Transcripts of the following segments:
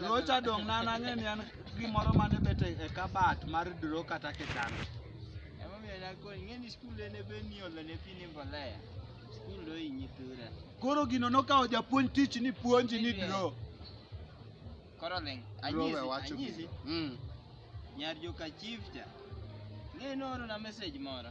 Rocha dong' na nang'e ni an gimoro mane bet e e kabat mar dro kata kitanda. Emomiyo nakoni, ing'eni skul en ebe ni olo ne pi ni mbolea. Skul ohinyi tura. Koro gino nokawo japuonj tich ni puonji ni dro. Koro ling, Dro we anyisi, wacho anyisi. gino. Mm. Nyar joka chief cha. Ing'eni nooro na message moro.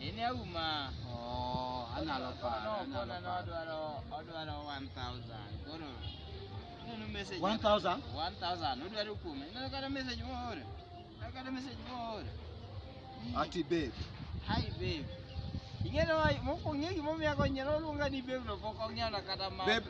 Ini auma. Oh, ana lo pa. No, no, no, no, odwaro odwaro 1000. Koro. Neno message. 1000? 1000. Odwaro kume. Neno kada message moore. Neno kada message moore. Ati babe. Hi babe. Ing'eyo mokwongo ing'eyo gimomiyo ago nyalo luonga ni babe no pok ong'eyo kata ma. Babe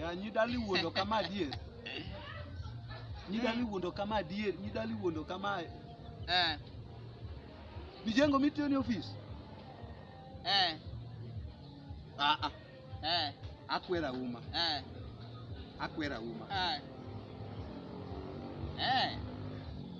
Ya nyidali wuondo kama adier. Nyidali wuondo kama adier, nyidali wuondo kama. Eh. Mijengo mitiyo ni ofis. Eh. Ah ah. Eh. Akwera uma. Eh. Akwera uma. Eh. Eh.